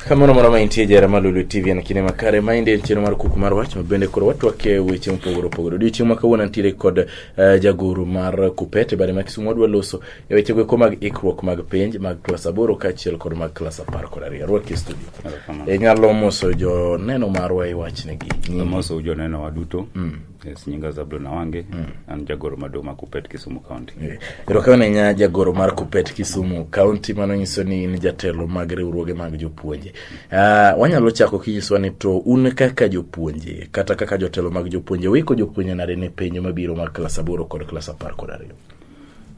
kamano moro ma intie jara ma lulu tv en kinde makare ma inde en chenro mar kuku mar wach ma bende koro watwake weche mopogore opogore odiochieng' ma kawuono nitiere kod eh, jagoro mar kupete bade ma kisumu wadwa loso e wechego eko mag ikruok mag penj mag klas aboro kaachiel kod mag klas apar kod ariyo rwaki e studio e nyalo moso joneno marwa e wachnegi moso joneno wa duto mm. yes, nyinga zablon awange mm. an jagoro maduong' ma kupet kisumu county eh, erokamano yeah. nya jagoro mar kupet kisumu county mano nyiso ni in jatelo mag riwruoge mag jopuonje uh, wanyalo chako kinyisowa ni to un kaka jopuonje kata kaka jotelo mag jopuonje wiko jopuonje nade ne penjo mabiro mag klas aboro kod klas apar kod ariyo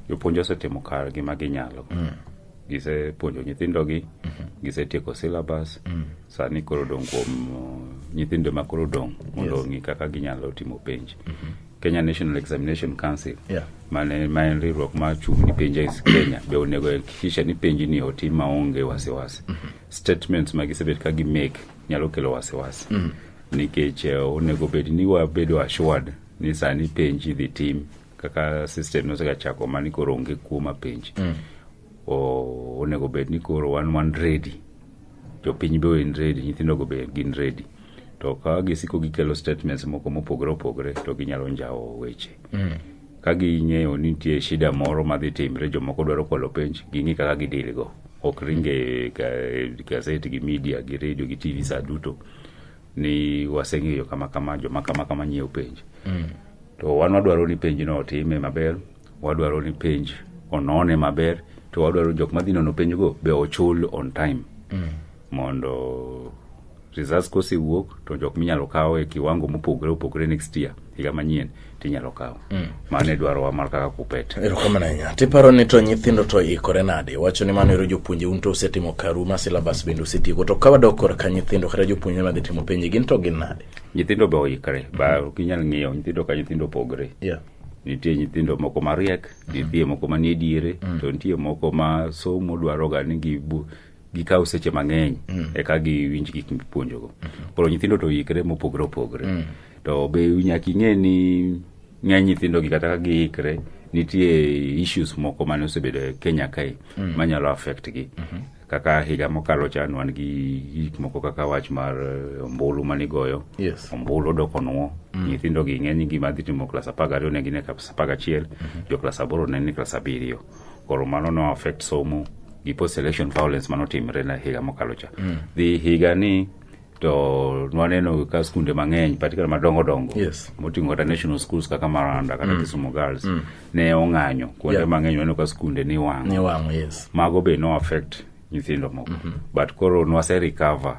jopuonj osetimo kar gima ginyalo mm. gisepuonjo nyithindogi mm -hmm. gisetieko syllabus mm. sani koro dong' kuom uh, nyithindo ma koro dong' mondo yes. ong'i kaka ginyalo timo penj mm -hmm. kenya national examination council yeah. mane ma en riwruok machung' ni penj e kenya be onego hakikisha ni penj ni otim maonge wasiwasi mm -hmm. statements ma gisebet ka gimake nyalo kelo wasiwasi mm -hmm. nikech uh, onego bed ni wabedo assured ni sani penj idhi tim kaka system nosega chako mani koro onge kuo mapenj mm. onego bed ni koro wan wan ready jopiny be en ready nyithindogo be gin ready to ka gisiko gikelo statements moko mopogore opogore to ginyalo njawo weche mm. ka ging'eyo ni nitie shida moro madhi timre jomoko dwaro kwalo penj ging'i kaka gidilgo ok ringe gazet gi media gi radio gi tv sa duto ni waseng'eyo kama kama joma kama kama nyiewo penj mm. to wan wadwaro ni penj no otime maber wadwaro ni penj onone maber to wadwaro jok madhi nono penjgo be ochul on time mm. mondo results kosewuok to jok minyalo kaw e kiwango mopogore opogore next year higa manyien tinyalo kawo mm. mano idwarowa mar kaka kupet erokamano ahinya tiparo ni to nyithindo to ikore nade wacho ni mano ero jopuonje un to usetimo karu ma silabas bende usetieko to ka wadok korka nyithindo kata jopuonje madhi timo penje gin to gin nade nyithindo be oikre ba ok inyal ng'iyo nyithindo ka nyithindo opogre yeah nitie nyithindo moko mariek nitie moko manie diere mm. to nitie moko ma somo dwaroga ni gikawo seche mang'eny eka giwinj gik mipuonjogo koro nyithindo to ikre mopogre opogre to be nyaka ing'e ni ng'eny nyithindogi kata ka giikre nitie issues moko mane osebedo e kenya kae manyalo affect gi kaka higa mokalo cha wan gi gik moko kaka wach mar eh, ombulu manigoyo Yes. ombulu odok onwo nyithindogi ng'eny gima dhi timo klas apar gariyo ne gin e klas apar gachiel jo klas aboro ne ni klas abiriyo koro mano no affect somo gi post election violence mano timre na higa mokalo cha mm. dhi higa ni to nwaneno ka skunde mang'eny patikana madongo dongo yes. moting'o kata national schools kaka maranda kata mm. kisumu girls mm. ne ong'anyo kuonde yeah. mang'eny waneno ka skunde ni wang'o yes. mago be no affect nyithindo moko mm -hmm. but koro nwase recover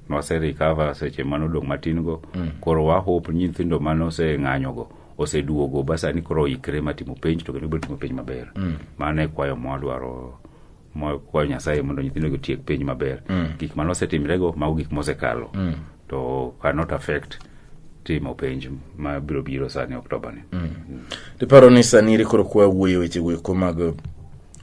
nwase recover seche mano dong' matin go mm. koro wahope nyithindo mano se ng'anyo go oseduogo basa ni koro oikre ma timo penj to kendo biro timo penj maber mm. mano e kwayo mwadwaro mwakuayo nyasaye mondo nyithindo gi tiek penj maber mm. gik mane osetimrego mago gik mosekalo mm. to cannot affect timo penj ma biro biro sani oktoba ni mm. mm. tiparo ni sani iri koro kwa wuoyo weche weko mag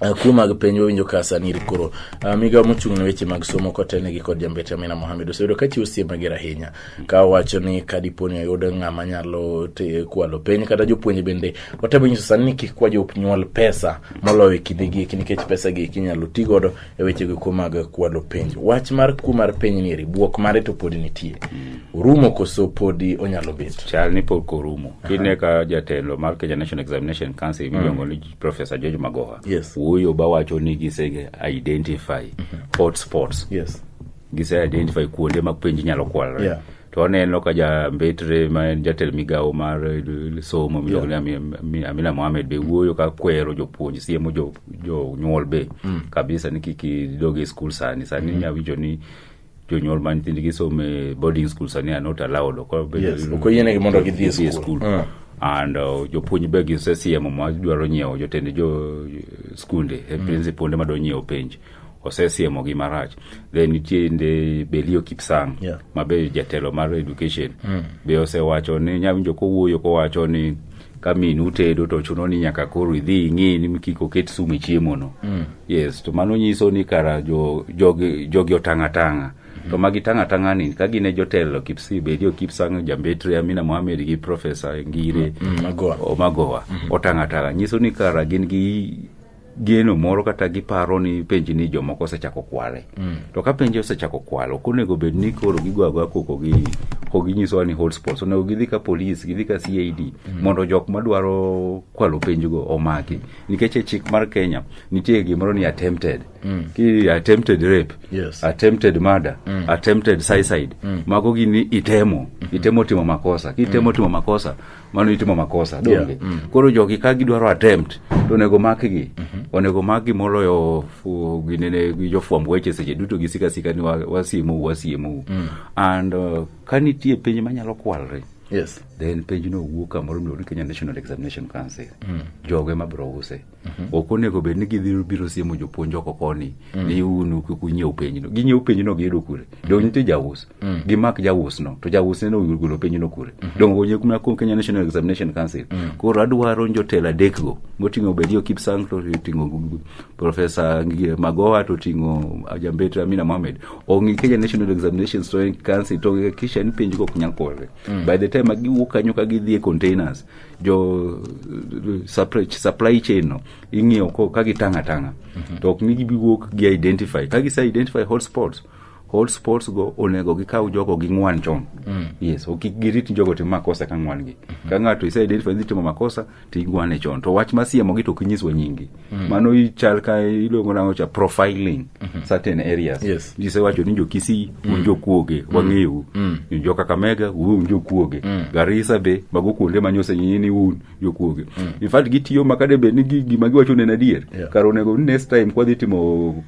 Uh, kuo mag piny wawinjo ka saniri koro uh, migawo mochung' ne weche mag somo kotelnegi kod jambete amina mohamed oseyudo ka chiwo sie mager ahinya ka owacho ni ka dipo ni oyud ng'ama nyalo te- kwalo piny kata jopuonj bende otemo nyiso sani ni kik kwa jonyuol pesa moloyo e kinde gieki nikech pesa gieki inyalo ti godo e weche gieko mag kwalo penj wach mar kuo mar piny nieri bwok mare to podi nitie orumo koso podi onyalo bet chal ni pok orumo kine ka jatelo mar kenya national examination council miluongo ni Professor George Magoha Yes. wuoyo ba wacho ni gise identify hotspots Yes. gise identify kuonde ma penj inyalo kwalre Yeah. to waneno ka ja mbetre ma en jatelo migawo mar eh, somo miluongo ni Ami- Ami- amina mohamed be wuoyo ka kwero jopuonj siemo jo- jonyuol be kabisa ni kik idog e skul sani sani inyawinjo ni jonyuol ma nyithindgi some e boarding school sani are not allowed ok obedo- Yes, ok oyienegi mondo gidhi e gidhi skul. Mm. and uh, jopuonj be gisesiemo ma dwaro nyiewo jotend jo skunde mm. principal ma dwa nyiewo penj osesiemo gi marach then nitie nde belio kipsang Yeah. ma be jatelo mar education mm. be osewacho ni nyawinjo kowuoyo kowacho ni ka minu tedo to chuno ni nyaka koro idhi ing'i ni kik oket sum e chiemono mm. yes to mano nyiso ni kara jogi jo, jo otang' atang'a mm. to magi tang' atang'a ni ka gin e jotelo kipsi bedi okipsang jambetre amina mohamed gi profesa ngire mm, mm, omagowa mm. otang' atang'a nyiso ni kara gin gi geno moro kata giparo ni penji ni jomoko osechako kwale mm. to ka penji osechako kwalo ok onego bed ni koro gigwagoya koko gi ko ginyisowa ni hotspots onego gidhi ka polis gidhi ka cad mm. mondo jok madwaro kwalo penjgo omaki nikech e chik mar kenya nitie gimoro ni attempted mm. ki attempted rape yes. attempted murder mm. attempted suicide mm. mago gini itemo mm -hmm. itemo timo makosa kitemo mm. timo makosa mano itimo makosa donge Yeah, mm. koro jogi ka gidwaro attempt to onego makgi onego makgi moloyo fu- ginene gi jofwamb weche seche duto gisika sika ni wa- wasiemou wasiemou and uh, ka nitie penj manyalo kwalre yes then penjno wuok kamoro miluongo ni kenya national examination council jogo ema biro use Mhm. ok onego bed ni gidhiro biro siemo jopuonj oko koni mm. ni unu kik unyiew penyno ginyiew penyno giyudo kure mm. dong nitie jaus mm. gimak jausno to jausneno golo penyno kure mm-hmm. dong onye kuma kuom kenya national examination council koro adwaro jotelo adekgo moting'o bedio kipsang to oting'o profesa magoha to oting'o ajambet amina mohamed ong'i kenya national examination council to kisha ni penjgo ok nyal korre by the time giwuok kanyo ka gidhi e containers jo eh, supply, supply chain no ing'iyo ko ka gitang' atang'a mhm. to ok mi gibiwuok gi identify ka gise identify hotspots hotspots go onego gikaw jogo gi ng'wan chon mm. yes ok girit jogo timo makosa ka ng'wan gi mm -hmm. ka ng'ato ise identify ni timo makosa to igwane chon to wach masiemogi to ok inyiswa nyingi Mm. Mano ichal ka iluongo nango cha profiling mm -hmm. certain areas. Yes. Jise wacho ni jokisi mm. unjo kuoge mm. wang'eyu. Mm. Unjo kaka mega uwe unjo kuoge. Mm. Garisa be mago kuonde manyose nyini un jo kuoge. Mm. In fact gitiyo makade be ni gima giwacho ne nadier. Yeah. Karo nego next time kwa dhitimo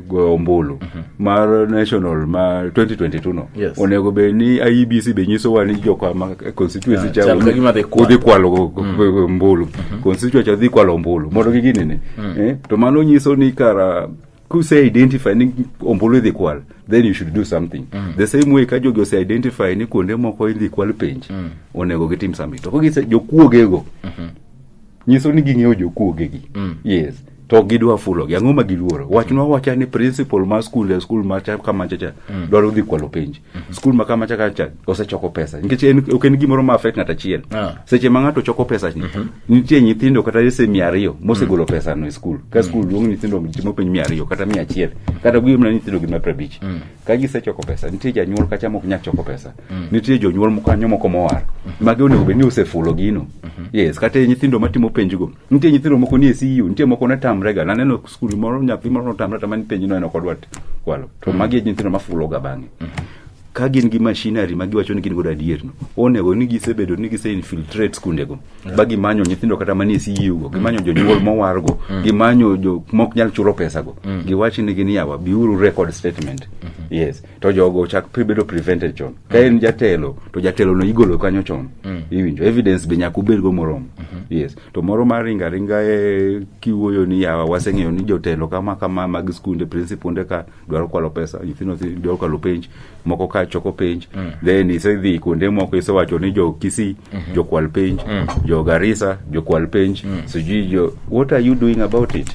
goyo ombulu mar national ma 2022 no Yes. onego bed ni IEBC be nyisowa ni joka ma constituency Yeah, cha chal ka gima dhi kwalo. udhi kwalo go- go- go- ombulu constituency cha dhi kwalo ombulu mondo gi gini ni eh, to mano nyiso ni kara kuse identify ni ombulu idhi kwal then you should do something the same way ka jogi ose identify ni kuonde moko idhi kwal penj onego gitim something to ka gise jokuogego nyiso ni ging'eyo jokuogegi mm. yes to gidwa fulogi ang'o ma giluoro wachnwa wacha ni principal mar skul e skul macha kamachacha mm. dwaro dhi kwalo penj mm-hmm. skul ma kamacha kacha osechoko pesa nikech ok en gimoro ma affect ng'at achiel ah. seche ma ng'ato choko pesa ni mm-hmm. nitie nyithindo kata ese mia ariyo mosegolo mm. pesano e skul ka mm. skul duong' nyithindo timo penj mia ariyo kata mia achiel kata gimna nyithindo gi mapra abich ka gisechoko pesa nitie janyuol kacha mok nyal choko pesa mm. nitie jonyuol moko kanyo moko mowar mm. magi onego bed ni osefulo gino mm-hmm. yes kata nyithindo matimo penjgo nitie nyithindo moko nie CU nitie moko ne tamrega naneno skul moro nyathi moro notamre tama ni penjno en ok odwa kwalo to mm. magi e nyithindo mafuloga bang'e mm-hmm. ka gin gi machinery ma giwacho ni gin godo adierno onego ni gisebedo ni gise infiltrate skundego ba gimanyo nyithindo kata manie CEO gimanyo jonyuol mowargo gimanyo jo mok nyal chulo pesago giwachi nigi ni yawa biuru record statement yes to jogo chak pre- bedo prevented chon ka en jatelo to jatelo no igolo kanyo chon iwinjo evidence be nyaka ubedgo moromo yes to moro mar ringa ringa e kiwuoyo ni yawa waseng'eyo ni jotelo kama kama mag skunde principal ka dwaro kwalo pesa nyithindo thi- dwaro kwalo penj moko ka choko penj then isedhi kuonde moko isewacho ni jo kisii jokwal penj jo garisa jokwal penj sijui jo what are you doing about it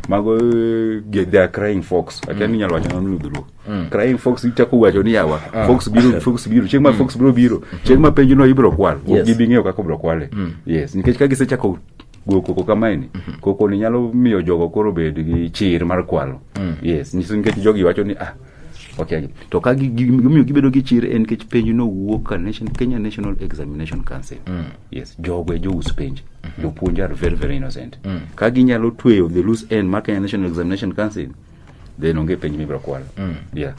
mago eh, ge- they are crying fox akia ni nyalo wacho nang'o ni dholuo crying fox ichako wacho ni yawa fox biro fox biro chieng' ma fox biro biro chieng' ma penjno ibiro kwal Yes. ok gibi ng'eyo kaka obiro kwale yes nikech ka gisechako go koko kamaeni koko ni nyalo miyo jogo koro bed gi chir mar kwalo yes nyiso nikech jogi wacho ni ah okay to ka gi- gi- gimiyo gibedo gi chir en nikech penj no wuok ka nation, kenya national examination council yes jogo e jous penj jopuonj are very very innocent ka ginyalo tweyo the loose end mar kenya national examination council then onge penj mibiro kwalo mm. yeah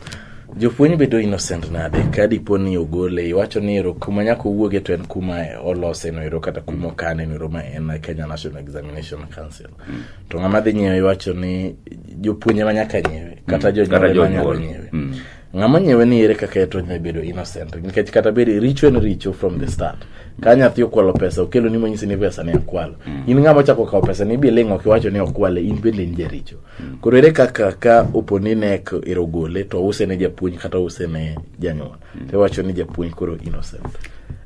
jopuonj bedo innocent nade ka dipo ni ogole iwacho ni ero kuma nyaka owuoge to en kuma olose no ero kata kuma okane no ero ma en Kenya National Examination Council mm. to ng'ama dhi nyiewe iwacho ni jopuonje ma nyaka nyiewe kata mm. jonyuol ma nyaka nyiewe mm. ng'ama nyiewe ni ere kaka eto nyalo bedo innocent nikech kata bedo richo en richo from the start ka nyathi okwalo pesa okelo ni monyisi ni pesa ne akwalo mm. in ng'ama ochako kawo pesa ni biling' ok iwacho ni okwale in bende in jaricho koro ere kaka ka opo ni nek ero gole to ouse ne japuonj kata ouse ne janyuol to iwacho ni japuonj koro innocent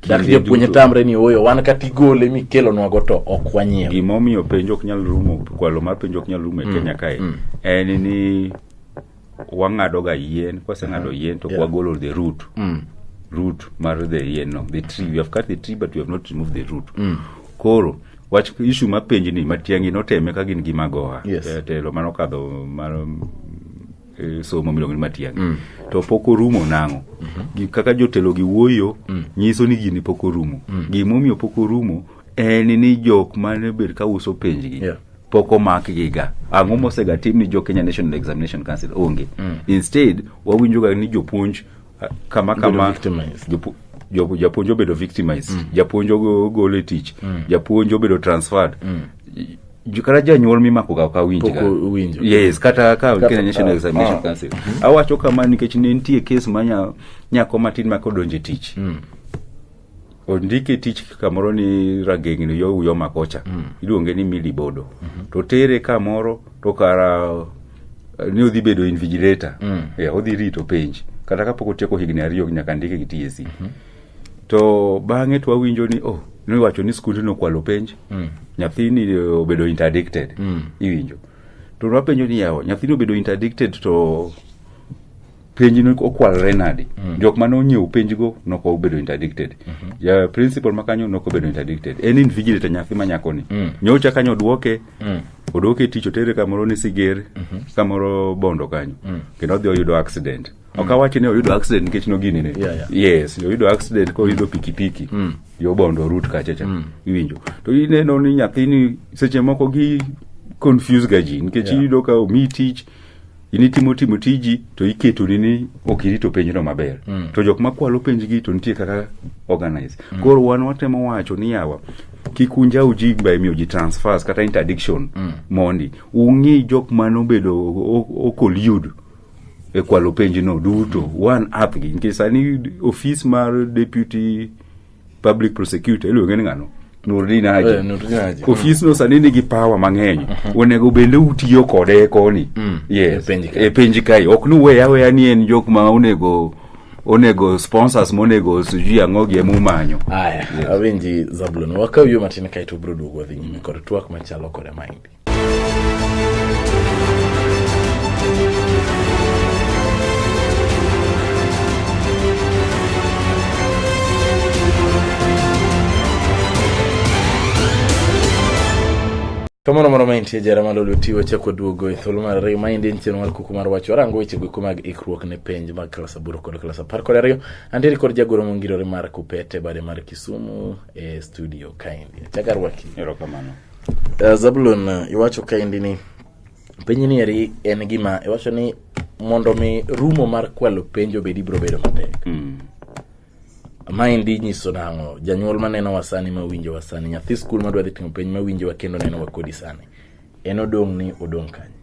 dak Kinde japuonj duto. tamre ni oyo wan kata igole mikelonwago to ok wanyiew gimomiyo penjo ok nyal rumo kwalo mar penjo ok nyal rumo e kenya kae en ni wang'adoga yien kwaseng'ado yien to Yeah. wagolo the root Mm. root mar the yien no the tree we have cut the tree but we have not removed the root koro wach ishu ma penj ni matiangi noteme ka gin gi magoha yes. e, telo mano kadho mar e, somo miluongo ni matiangi mm. to pok orumo nang'o mm -hmm. kaka jotelo gi wuoyo mm. nyiso ni gini pok orumo mm. gimomiyo pok orumo en ni jok mane bed ka uso penjgi yeah pok omakgi ga ang'o mosega tim ni jo kenya national examination council onge mm. instead wawinjoga ni jopuonj Ah, kama Bedo kama victimized. jopu- jo- japuonj obedo victimized japuonj ogo- ogol e tich japuonj obedo transferred Ju- kata janyuol mimako ga ka winj Pok ga. uwinjo. yes kata ka Kata- Kenya National ah, Examination ah. Council awacho kama nikech ne nitie kes ma nya- nyako matin ma kodonje tich ondike e tich kamoro ni ragengni yo uyo makocha mm. iluonge ni mili bodo mm -hmm. to tere kamoro to kara eh, ni odhi bedo invigilator mm. yeah, odhi rito penj kata kapok otieko higni ariyo nyaka ndike gi TSC mm -hmm. to bang'e to wawinjo ni oh niwacho ni skundi nokwalo penj mm. nyathini eh, obedo interdicted mm. iwinjo to nwapenjo ni yawa nyathini obedo interdicted to penj no okwalore nadi mm. jok mane onyiew penjgo noko obedo interdicted mm -hmm. ja principal makanyo noko obedo interdicted en invigilator nyathi manyakoni mm. nyocha kanyo odwoke mm. odwoke tich otere kamoro ni siger mm -hmm. kamoro bondo kanyo mm. kendo odhi oyudo accident mm. ok awachi ni oyudo accident nikech nogini ne yeah, yeah. yes oyudo accident ka oyudo pikipiki mm. yo bondo rut kachacha mm. iwinjo to ineno ni nyathini seche moko gi confuse ga ji nikech yeah. iyudo ka omi tich in itimo timo tiji to iketoni ni ok irito penjno maber mm. to jok makwalo penjgi to nitie kaka organize mm. koro wan watemo wacho ni yawa kik unjaw ji ba imiyo ji transfers kata interdiction mm. mondi ung'i jok mane obedo okolyud e kwalo penjno duto one app gi nikech sani ofis mar deputy public prosecutor iluonge ni ng'ano Nurdin Haji. Eh, Nurdin Haji. Ofisno sani nigi power mang'eny. Mhm. Onego bende utiyo kode e koni. Mm. Yes. E penji kai. Ok nuwe aweya ni en jok ma onego onego sponsors monego sijui ang'o gi emumanyo aya yes. awinji zabulon wakaw yo matin kaeto ubiro duogo wadhi nyime kod twak machalo kode maindi Kamano moro maintie jara ma lolo ti wachako duogo e thuolo mar ariyo ma endi en chenro mar kuku mar wach warango weche goeko mag ikruok ne penj mag klas aboro kod klas apar kod ariyo antiere kod jagoro mongirore mar kupete bade mar kisumu e studio kaendi achaka rwaki erokamano Uh, Zabulon uh, iwacho kaendi ni penj ni eri en gima iwacho ni mondo mi rumo mar kwalo penjo bedi biro bedo matek mm. maendi nyiso nang'o janyuol maneno wa sani ma winjo wa sani nyathi skul madwa dhi timo penj ma winjo wa kendo neno wa kodi sani en odong' ni odong' kanye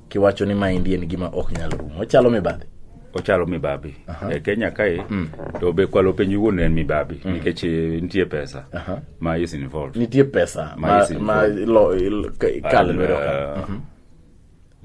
kiwacho ni maendi en gima ok nyal rumo ochalo mibadhi ochalo mibabi e kenya kae mm. to be kwalo piny wuon en mibabi mm. nikech eh, nitie pesa ma is involved nitie pesa ma, ma, ma lo, il, kal lwedo ka uh, mhm.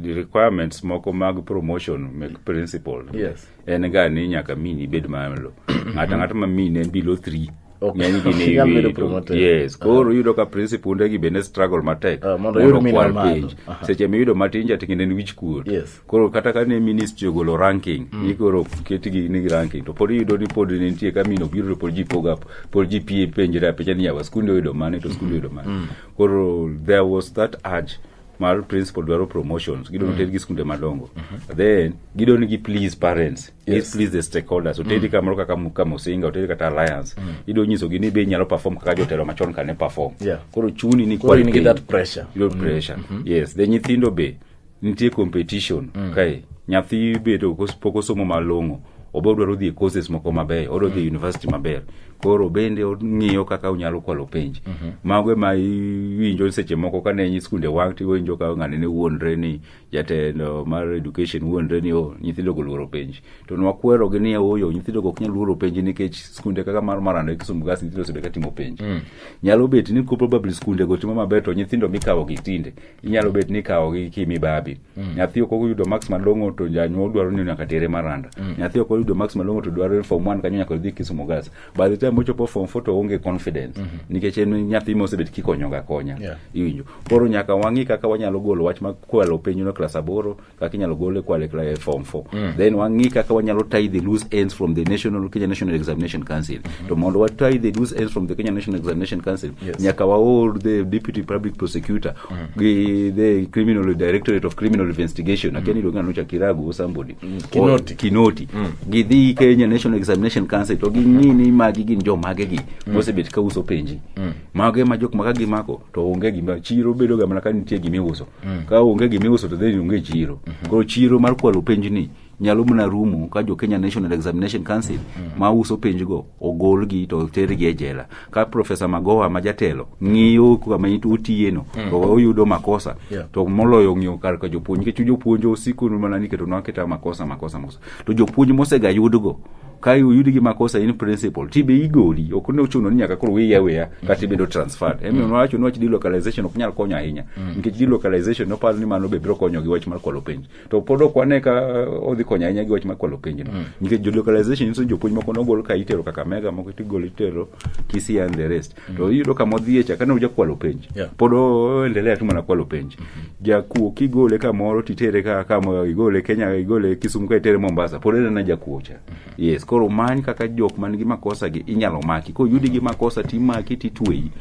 the requirements moko mag promotion make principle yes. en ga ni nyaka mini ibed malo ng'ato ang'ata ma mine below three Ok. ng'eny gin e Nyalo bedo wiye to- promoted. yes koro yudo ka principal gi bende struggle matek Ah, mondo oyud mina okwal malo. page Aha. seche miyudo matin jating'ine en wich kuot Yes. koro kata ka ne ministry ogolo ranking ni koro ketgi ni ranking to pod iyudo ni pod ne nitie ka mino biro to pod ji poga pod ji pie penjre apenja ni yawa skunde oyudo mane to skunde oyudo mane koro there was that urge mar principal dwaro promotions gidwa noter gi skunde madongo then gidwa ni gi please parents yes. Yes. please the stakeholders oteri mm. kamoro kaka mu- kama osinga oteri kata alliance mm. idwa nyisogi ni be inyalo perform kaka jotelo machon kane perform Yeah. koro chuni ni Koro in gi quality. that pressure. Yudo pressure yes the nyithindo be nitie competition kae nyathi bedo pok osomo malong'o obe odwaro dhi e courses moko mabeyo odwa dhi e university maber koro bende ong'iyo kaka onyalo kwalo penj mhm. mago ema iwinjo seche moko kane nyi skunde wang' ti iwinjo ka ng'ane ne wuondre ni jatelo mar education wuondre ni o oh, nyithindo go luoro penj to nwakwero gi ni oyo nyithindo go ok nyal luoro penj nikech skunde kaka mar marando e kisumu gas nyithindo osebedo ka timo penj mm. nyalo bet ni ko probably skunde go timo maber to nyithindo mikawo gi tinde inyalo bet ni ikawo gi kimibabi mm. nyathi ok oyudo max malong'o to janyuol dwaro ni nyaka tere maranda mm. nyathi ok oyudo max malong'o to dwaro form one kanyo nyaka dhi kisumo gas by the time ochopo form four to onge confidence mm -hmm. nikech en nyathi mosebet kikonyoga konya yeah. iwinjo koro nyaka wang'i kaka wanyalo golo wach ma kwalo piny no klas aboro kaka inyalo gol e kwale kla e form 4 mm. then wang'i kaka wanyalo tie the loose ends from the national Kenya National Examination Council mm -hmm. to mondo wa tie the loose ends from the Kenya National Examination Council yes. nyaka waor the deputy public prosecutor mm -hmm. gi the criminal directorate of criminal investigation mm -hmm. akeni longano cha kiragu or somebody mm -hmm. kinoti, or, kinoti. Mm -hmm. gidhi Kenya National Examination Council to ging'i ni magi gin jo mage gi mm -hmm. mosebet ka uso penji mm -hmm. mage ma jok ma ka gimako to onge gima chiro bedo ga mana ka nitie gimiuso mm. ka onge gima iuso to then onge chiro mm -hmm. koro chiro mar kwalo penj ni nyalo mana rumo ka jo Kenya National Examination Council mm. ma uso penjgo ogolgi to tergi e jela ka Profesa Magoha ma jatelo ng'iyo kama otiyeno mm. to oyudo makosa yeah. to moloyo ng'iyo kar ka jopuonj nikech jopuonj osiko mana niketo nwa keta makosa makosa makosa to jopuonj mosega yudgo ka oyudi gi makosa in principal ti be igoli ok ne ochuno ni nyaka koro wiya weya kata ibedo transferred mm. emiyo nowacho ni wach delocalization ok nyal konyo ahinya mm. nikech delocalization noparo ni mano be biro konyo gi wach mar kwalo penj to pod ok wane ka uh, odhi konyo ahinya gi wach mar kwalo penj no mm. nikech delocalization nyiso jopuonj moko nogol ka itero Kakamega moko tigol itero Kisii and the rest to iyudo kama odhiye cha kane ojakwalo penj Yeah. pod oendelea tu mana kwalo penj jakuo kigole kamoro titere ka kama igole kenya igole kisumu ka itere mombasa pod enena jakuo cha yes koro many kaka jok man gi makosa gi inyalo maki koyudi gi makosa timaki titweyi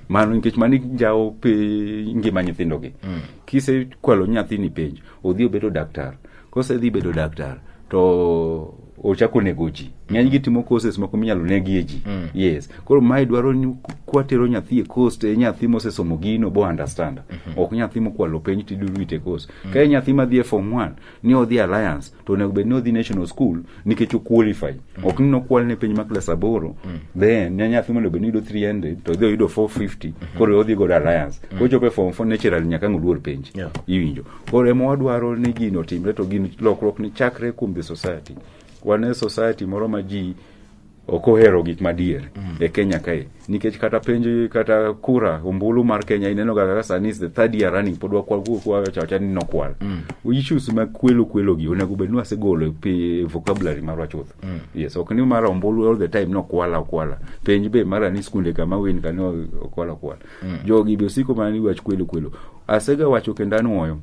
mano nikech mano ijawo pe ngima nyithindogi kisekwalo nyathini penj odhi obedo daktar kosedhi bedo daktar to ochako nego ji ng'eny gi timo courses moko minyalo negie ji mm. yes koro mae dwaro ni kwatero nyathi e course to e nyathi mosesomo gino bo understand mm -hmm. ok nyathi mokwalo penj tidurwite course mm. ka e nyathi madhi e form 1 ni odhi alliance to onego bed ni odhi national school nikech o qualify mm. ok ni nokwal ne piny ma klas aboro mm. then ne nyathi mondo bed ni yudo 300 to odhi oyudo 450 mm-hmm. koro odhi godo alliance mm. kochopo e form four natural nyaka ang' oluor penj yeah. iwinjo koro ema wadwaro ni gino otimre to gin lokruok ni chakre kuom the society wan e society moro ma ji ok ohero gik madier mm. e Kenya kae nikech kata penjo kata kura ombulu mar Kenya ineno ga kaka sani is the third year running pod wakwal kwa chacha ni nokwal mm. issues ma kwelo kwelo gi onego bed ni wasegolo e pi vocabulary marwa chuth mm. yes ok ni mar ombulu all the time nokwala okwala penj be mara ni skunde kama win kani okwala okwala mm. jogi be osiko mana ni wach kwelo kwelo asega wacho kendo anuoyo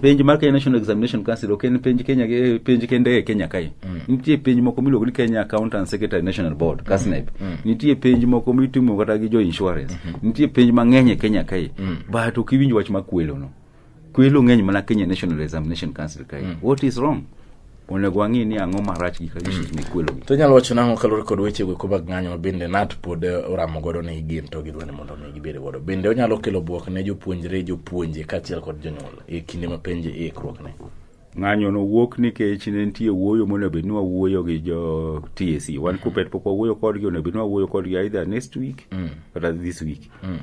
penj mar Kenya National Examination Council ok en penj Kenya eh, penj kende e Kenya kae. Nitie penj moko miluongo ni Kenya Accountant Secretary National Board, KASNEB. Nitie penj moko mitimo kata gi jo insurance. Nitie penj mang'eny e Kenya kae. But ok iwinj wach ma kwelo no. Kwelo ng'eny mana Kenya National Examination Council kae. What is wrong? onego wang'i ni ang'o marach gi kagishit mm. mikwelogi to nyalo wacho nang'o kalure kod weche weko mag ng'anyo ma bende nat pod eh, oramo godo ni gin to gidwani mondo mi gibed godo bende onyalo kelo bwok ne jopuonjre jopuonje kaachiel kod jonyuol e kinde ma penje e ikruokne ng'anyo no wuok nikech ne nitie wuoyo monego bed ni wawuoyo gi jo TSC wan mm. kupet pok wawuoyo kodgi onego bed ni wawuoyo kodgi either next week mm. kata this week mm.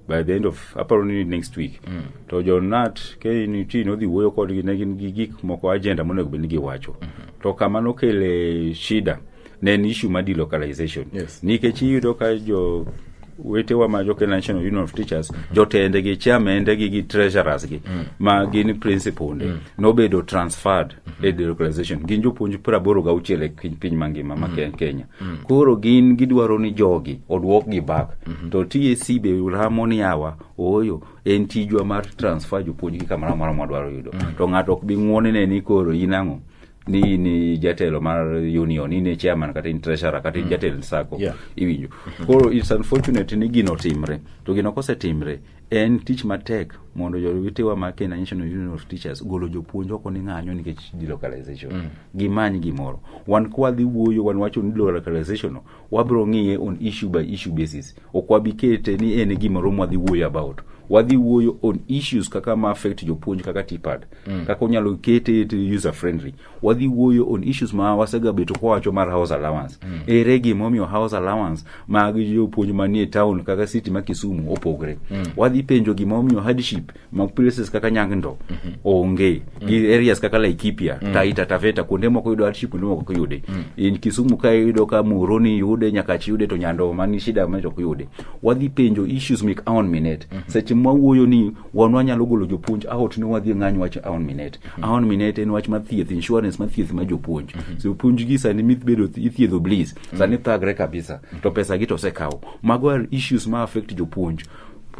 by the end of aparo ni next week mm. to jonat knut nodhi wuoyo kodgi ne gin gi gik moko agenda monego bed ni giwacho mm -hmm. to kama nokele shida ne en issue ma delocalization yes. nikech iyudo ka jo wetewa ma jo national union of teachers mm -hmm. jotende gi chairmende gi gi treasurers gi mm. ma gin principalnde mm. nobedo transferred mm -hmm. e delocalization gin jopuonj praboro gauchiel e piny mangima ma mm -hmm. kenya mm. koro gin gidwaro ni jogi odwokgi bak mm -hmm. to TSC be ramo ni awa ooyo en tijwa mar transfer jopuonjgi kamoro amora mwadwaro yudo mm -hmm. to ng'ato ok bi ng'wonine ni koro in ang'o ni ni jatelo mar union ni ne chairman kata in treasurer kata in mm. jatelo sako yeah. iwinjo mm-hmm. koro it's unfortunate ni gino timre to gino kosetimre En tich matek mondo jowetewa ma Kenya National Union of Teachers golo jopuonj oko ni ng'anyo nikech delocalization. Mm. Gimany gimoro. Wan kwa dhi wuoyo wan wacho ni delocalization no, wabro ng'iye on issue by issue basis. Ok wabi kete ni en e gima romo wadhi wuoyo about. Wadhi wuoyo on issues kaka ma affect jopuonj kaka TPAD. Mm. Kaka unyalo kete user friendly. wadhi wuoyo on issues ma wasegabeto kwawacho mar house allowance mm. ere gimomiyo house allowance mag jopuonj manie town kaka city ma kisumu opogre mm. wadhi penjo gimomiyo hardship mag places kaka nyang'ndo mm -hmm. onge mm. gi areas kaka laikipia mm. taita taveta kuonde moko yudo hardship kuonde moko ok yude mm. in kisumu ka iyudo ka muroni yude nyakachi yude to nyando mani shida ma ok yude wadhi penjo issues mek aon minute mm -hmm. seche mwawuoyo ni wanwa nyalo golo jopuonj aot ne wadhi ng'any wach aon minet mm-hmm. aon minet en wach mathieth insurance mathieth ma jopuonj mm-hmm. so puonj gi sani mibedo ithiedho bliss mm-hmm. sani thagre kabisa to pesa gi to osekawo mago are issues ma affect jopuonj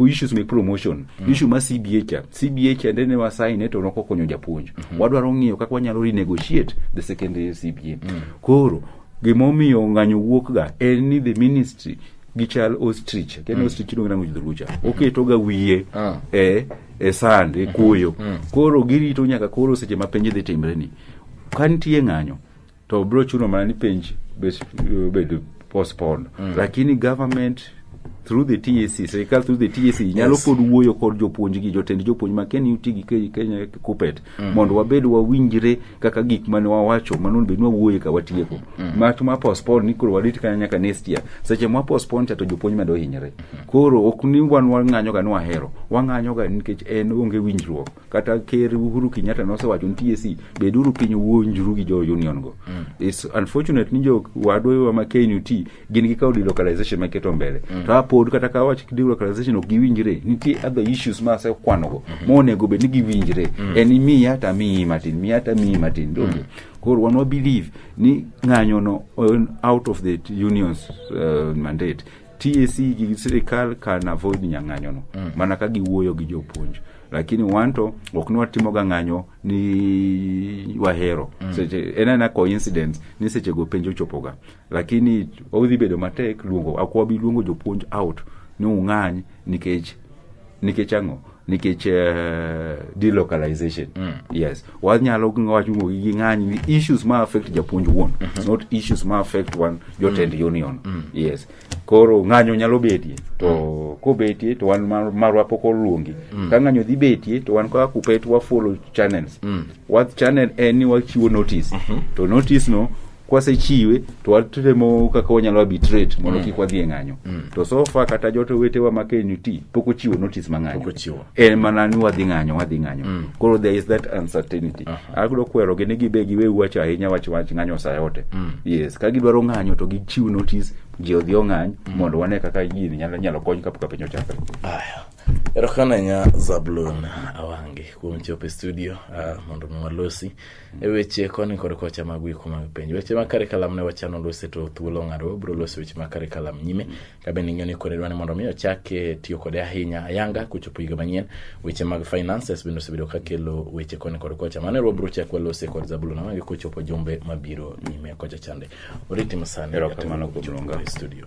issues me promotion mm. issue ma cba cha cba cha nde ne wasain ne to nokokonyo japuonj mm -hmm. wadwaro ng'iyo kaka wanyalo renegotiate the secondary cba mm. koro gimomiyo ng'anyo wuokga en ni the ministry gichal ostrich ken ostrich iluongo nango jodholuo cha oketoga wiye Ah. e e sand e kuoyo koro girito nyaka koro seche ma penj dhi timre ni ka nitie ng'anyo to biro chuno mana ni penj bes- bedo postponed lakini government through the TAC serikal through the TAC nyalo pod wuoyo kod jopuonj gi jotend jopuonj ma ken uti gi Ke- Kenya Kuppet mm. mondo wabed wawinjre kaka gik mane wawacho mano bed wawuoye ka watieko mm. mach ma postpone ni koro warit kanya nyaka next year seche ma postpone cha to jopuonj medo hinyre mm. koro ok ni wan wang'anyo ga ni wahero wang'anyo ga nikech en onge winjruok kata ker Uhuru Kenyatta nosewacho ni TSC beduru piny wuonjru gi jo union go mm. it's unfortunate ni jo wadwa ma KNUT gin gikawo delocalization maketo mbele mm. to apod kata ka wach delocalization ok giwinjre nitie other issues ma asekwanogo mm-hmm. monego bed ni giwinjre mm. en imiya to amiyi matin miya to amiyi matin donge mm. koro wan wabelieve ni ng'anyono out of the unions uh, mandate tac gi sirikal can avoid nyang'anyono mm. mana ka giwuoyo gi jopuonj lakini wanto ok nwatimoga ng'anyo ni wahero mm. seche en ena coincidence ni sechego penjo chopoga lakini odhi bedo matek luongo akwabi luongo jopuonj out ni ung'any nikech nikech ang'o nikech uh, delocalization mm. yes wanyalo wachumo gi ng'any ni issues ma affect japuonj wuon mm -hmm. not issues ma affect wan jotend mm. union mm. yes koro ng'anyo nyalo betie to mm. kobetie to wan mar, marwa pok oluongi mm. ka ng'anyo dhi betie to wan kaka kupet wafollow channels mm. what channel en ni wachiwo notice mm -hmm. to notice no kwasechiwe to watemo kaka wanyalo arbitrate mondo mm. kik wadhi e ng'anyo mm. to sofa kata joto wetewa ma KNUT pok ochiwo notice ma ng'anyo en mana ni wadhi ng'anyo wadhi ng'anyo mm. koro there is that uncertainty uh -huh. agro kwero gini gibe giwe wach ahinya wach wach ng'anyo saa yote mm. yes ka gidwaro ng'anyo to gichiw notice ji odhi ong'any mm. mondo wane kaka gini nyalo, nyalo kony kapok piny ochakre aya erokamano ahinya zablon awange kuom chopo e studio uh, mondo mi walosi e weche koni kod kocha mag wiko mag penj weche ma karikalam ne wachano lose to thuolo ong'ado wabiro loso weche ma karikalam nyime ka bende ing'eyo ni kore dwa ni mondo mi ochak eh, tiyo kode ahinya ayanga kochopo higa manyien weche mag finances bende osebedo ka kelo weche koni kod kocha mano ero wabiro chak walose kod zabulon awange kochopo jumbe mabiro nyime kocha chande oriti masani Erokamano kuom luonga. e studio